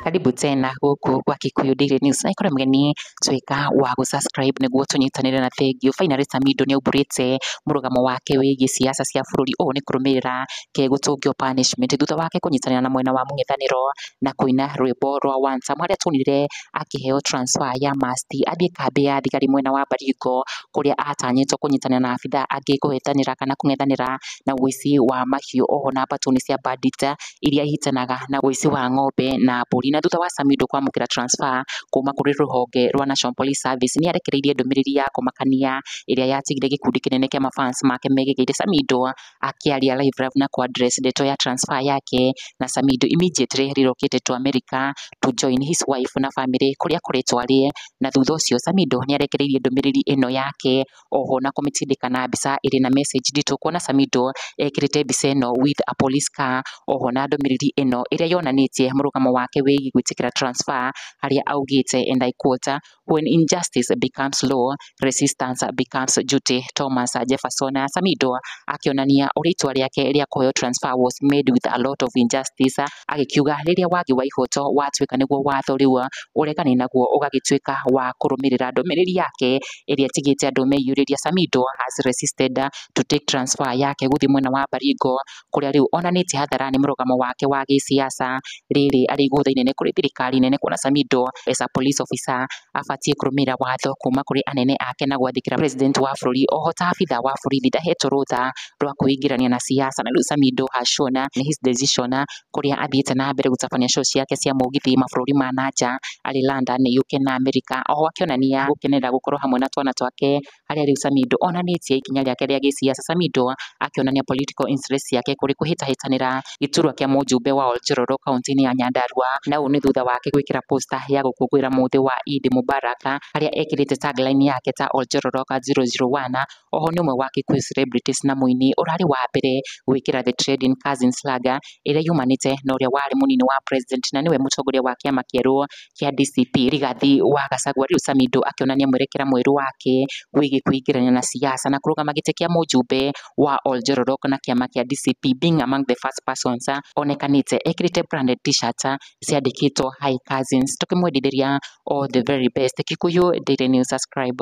Karibu tena gũkũ gwa Kikuyu Daily News. Na ikorwo mgeni tuĩka wa gũ subscribe nĩguo tũnyitanĩre na thengiũ. Finally Samido nĩ aumbũrĩte mũrũgamo wake wĩgiĩ siasa cia bũrũri ũũ nĩ kũrũmĩrĩra kegũtũngio punishment thutha wake kũnyitanĩra na mwena wa mũng'ethanĩro na kũina rwĩmbo rwa One Sam harĩa tuonire akĩheo transfer ya must athiĩ kambĩ ya thigari mwena wa Baringo, kũrĩa atanyĩtwo kũnyitanĩra na abithaa angĩ kũhĩtanĩra kana kũng'ethanĩra na ũici wa mahiũ oho na mbatuni cia bandit iria ihĩtanaga na ũici wa ng'ombe na mbũri. Na thutha wa Samido kwamũkĩra transfer kuma kũrĩ rũhonge rwa National Police Service, nĩ arekereirie ndũmĩrĩri ya kũmakania ĩrĩa yatigire gĩkundi kĩnene kĩa ma fans make megĩgeire Samido akĩaria live rap na kwa address ndeto ya transfer yake na Samido immediately relocate to America to join his wife na family kũrĩa akoretwo arĩ na thutha ũcio Samido nĩ arekereirie ndũmĩrĩri ĩno yake oho na kũmĩtindĩka na mbica ĩrĩ na message nditũ kuona Samido ekĩrĩte mbica ĩno with a police car oho na ndũmĩrĩri ĩno ĩrĩa yonanĩtie mũrũgamo wake wĩgiĩ gwĩtĩkĩra transfer harĩa augĩte and I quote When injustice becomes law, resistance becomes duty. Thomas Jefferson Samido akĩonania ũrĩa itua rĩake rĩa kũheo transfer was made with a lot of injustice, agĩkiuga rĩrĩa wagi wa ihoto watuĩka nĩguo watho rĩu ũregani naguo ũgagĩtuĩka wa kũrũmĩrĩra ndũmĩrĩri yake ĩrĩa ĩtigĩte andũ meyurĩria. Samido has resisted to take transfer yake gũthiĩ mwena wa Baringo kũrĩa rĩu onanĩtie hathara nĩ mũrũgamo wake wa gĩsiasa rĩrĩ arĩ igũtha inene kũrĩ thirikari nene kuona Samido as a police officer abatiĩ kũrũmĩrĩra watho kuma kũrĩ anene ake na gwathĩkĩra president wa bũrũri. Oho ta abitha wa borithi ndahetwo rũtha rwa kwĩingĩrania na siasa na rĩu Samido has shown nĩ his decision kũrĩa athiĩte na mbere gũtabania show ciake cia mũgithi mabũrũri ma nanja arĩ London, UK na America. Oho akĩonania gũkenerera gũkorwo hamwe na twana twake harĩa rĩu Samido onanĩtie ikinya rĩake rĩa gĩsiasa. Samido akĩonania political interest ciake kũrĩ kũhĩtahĩtanĩra gĩturwa kĩa mũjumbe wa Oljororo kaunti-inĩ ya Nyandarua, na ũũ nĩ thutha wake gwĩkĩra poster ya gũkũngũĩra mũthĩ wa Eid Mubarak harĩa ekĩrĩte tagline yake ta Oljororo ka 001. Oho nĩ ũmwe wa Kikuyu celebrities na mũini ũrarĩ wa mbere gwĩkĩra the trending Cousin Slaga ĩrĩa yumanĩte na ũrĩa warĩ mũnini wa president na nĩwe mũtongoria wa kĩama kĩerũ kĩa DCP Rigathi wa Gachagua rĩu Samidoh akĩonania mwerekera mwerũ wake wĩgiĩ kũingĩrania na siasa na kũrũgama gĩtĩ kĩa mũjumbe wa Oljororok na kĩama kĩa DCP being among the first persons onekanĩte ekĩrĩte branded t-shirt ciandĩkĩtwo Hi Cousins tũkĩmwendithĩria all the very best. Kikuyu Daily News Subscribe.